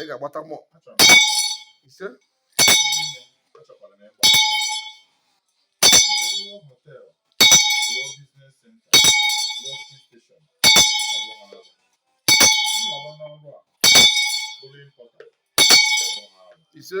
ị ga-agbata mọ ise ise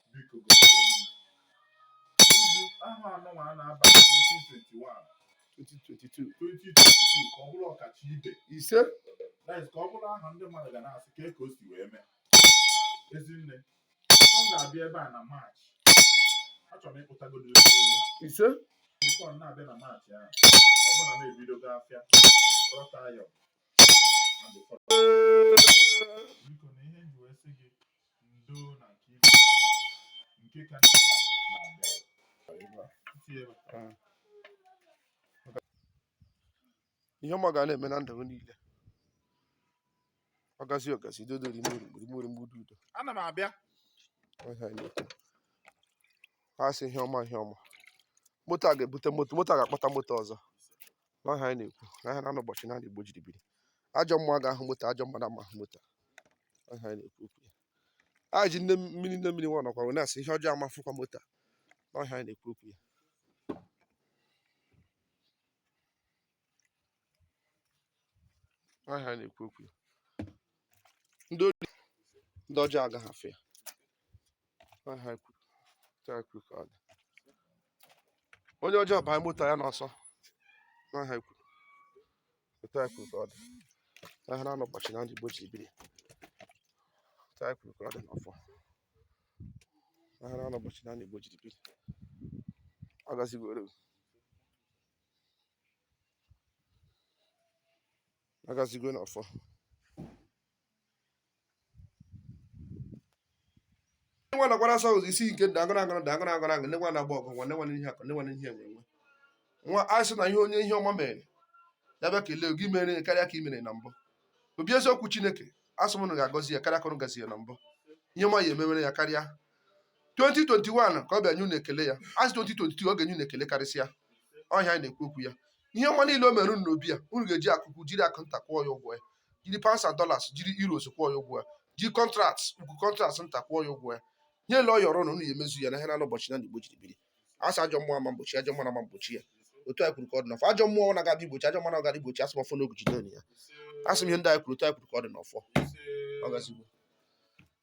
biko gosi ahọ anụnwa a na-aba 2021 2022 2022 ka ọ bụrụ ọkacha ibe ise ka ọ bụrụ ahọ ndị mmadụ ga na-asị kee ka o si wee mee ezinne ọ ga-abịa ebe a na maachị achọrọ m ịkpụtagodo ise bifọ na-abịa na maachị ahụ ọ bụrụ na m ebidogo afịa rọta ya ihe ọma ga na-eme na ndụ m niile ọgazi ọgazi dodo rimori mgbudu udo ana m abịa ha sị ihe ọma ihe ọma moto a ga-ebute moto moto a ga-akpata moto ọzọ n'ọha anyị na-ekwu ahịa na anọ ụbọchị na anọ Igbo jiri biri ajọ mmụọ aga ahụ moto ajọ mmadụ ama ahụ moto ọha anyị na-ekwu okwu ya a ji nne mmiri nne mmiri nwa nọkwa wee na-asị ihe ọjọọ amafụkwa moto n'ọha anyị na-ekwu okwu ya ọha anyị na-ekwu okwu ya ndị ọjọọ agaghị afụ ya onye ọjọọ baa moto ya n'ọsọ n'aha ikwu otu a kwuru ka ọ dị ahịa na anọ ụbọchị na anọ Igbo jiri biri otu a kwuru ka ọ dị n'ọfọ ahịa na anọ ụbọchị na anọ Igbo jiri biri ọ gazigo ere ọ gazigo n'ọfọ nwa nakwara asa ụzọ isi nke dagara agara dagara agara agara nwa na-agba ọgụ nwa nwa ihe akụ nwa ihe enwe enwe nwa asị na ihe onye ihe ọma mere ya bịa kelee gị i mere karịa ka i mere na mbụ obi eziokwu chineke asị m unu ga-agọzi ya karịa ka unu gọzi ya na mbụ ihe ọma ya emewere ya karịa 2021 ka ọ bịa nye unu ekele ya asị 2022 ọ ga-enye unu ekele karịsịa ọha anyị na-ekwu okwu ya ihe ọma niile o mere unu n'obi ya unu ga-eji akụ ukwu jiri akụ nta kwụọ ya ụgwọ ya jiri pounds and dollars jiri euros kwụọ ya ụgwọ ya jiri kọntrakt ukwu kọntrakt nta kwụọ ya ụgwọ ya ihe niile ọ yọrọ na unu ya emezu ya n'ahịa na anọ ụbọchị na anọ Igbo jiri biri asị ajọ mmụọ ama egbochi ajọ mmụọ ama egbochi ya otu anyị kwuru ka ọ dị n'ọfọ ajọ mmụọ ọ na-aga igbochi ajọ mmụọ na-aga igbochi asị m ọfọ na ogu jide ya asị m ihe ndị anyị kwuru otu anyị kwuru ka ọ dị n'ọfọ ọ gazigo